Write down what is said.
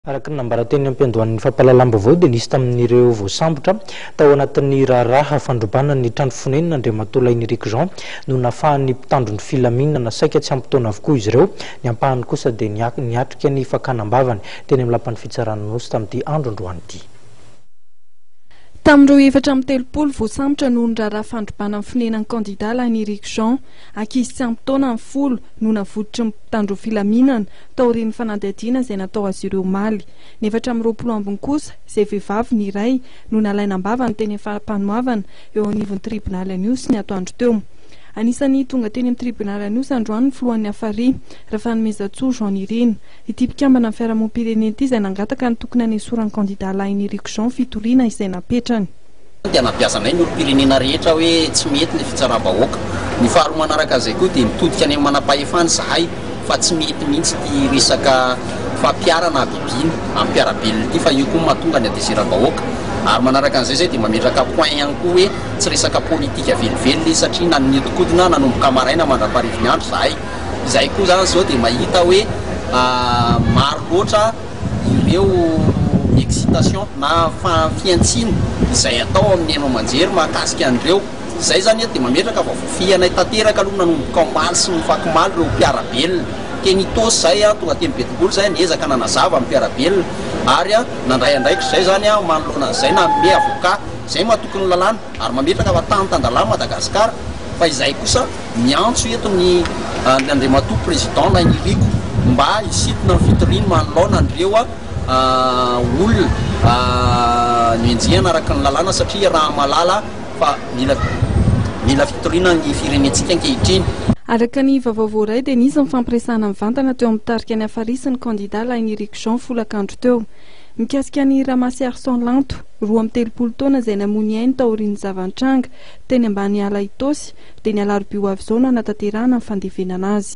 Araka ny nambara teny am-piandohan'ny fampahalalam-baovao dia nisy tamin'ireo voasambotra tao anatin'ny raharaha fandrobana ny trano fonenana Andriamatoa Lainiriko Jean no nafahan'ny mpitandro ny filaminana saika tsy ampy taona avokoa izy ireo, ny ampahany kosa dia niatrika ny fakana am-bavany teny amin'ny lapan'ny fitsarana Anosy tamin'ity andro androany ity. Tamin'ireo efatra amby telopolo voasambotra noho ny raharaha fandrobana ny fonenan'ny kandida Lainiriko Jean. Ankizy tsy ampy taona ny folo no navototry ny mpitandro filaminana taorian'ny fanadihadiana izay natao azy ireo omaly. Ny efatra amby roapolo ambiny kosa, izay vehivavy ny iray, no nalaina am-bava ny teny Fampanoavana eo anivon'ny tribonaly An'Ihosy ny atoandro teo. Anisan'ny tonga teny amin'ny tribonaly An'Ihosy androany ny filohan'ny Hafari, Rafanomezantsoa Jean Nirina. Ity mpikambana amin'ny fiarahamonim-pirenena ity izay nangataka ny tokony hanesoran'ny kandidà lahin'i Rico Jean fitoriana izay napetrany. dia nampiasanay ny olom-pirenena rehetra hoe tsy mety ny fitsaram-bahoaka. Ny faharoa manaraka an'izay koa dia nitodika any amin'ny manam-pahefana izahay fa tsy mety mihitsy ity resaka fampiharana habibiana amin'ny mpiara-belona ity fa io koa no mahatonga ny hatezeram-bahoaka. Ary manaraka an'izay izay dia mametraka point ihany koa hoe tsy resaka politika velively izy satria nanidinkodina nanomboka maraina mandra-parivin'ny andro izahay. Izahay koa izany izao dia mahita hoe maro loatra. ireo excitations na fihantsiana izay atao amin'ny haino aman-jery mahakasika an'ireo izay izany dia mametraka vaovao fihanay tanteraka aloha nanomboka omaly sy ofakomaly ireo mpiara-belona teny Itaosy izay aho tonga teny Betongolo izay niezaka nanazava ny mpiara-belona ary nandray andraikitra izay izany aho manoloana an'izay nanome avocat izay mahatoky ny lalàna ary mametraka fa tany tan-dalahy Madagascar fa izahay kosa miantso eto ny an Andriamatoa Président Nainiriko mba hisintona ny fitoriany manoloana an'ireo olona nenjehana araka ny lalàna satria raha malala fa mila mila fitoriana ny firenentsika ankehitriny. Araka ny vaovao voaray dia nisy ny fampiresahana mivantana teo amin'ny tarika ny Afary sy ny kandida Lainiriko Jean folakandro teo. Mikasika an'i Ramasiarison Lanto, roa amby telopolo taona izay namoy ny ainy taorian'ny zava-nitranga teny Ambaniala Itaosy dia ny alarobia ho avy izao no hanatanterahana ny fandevenana azy.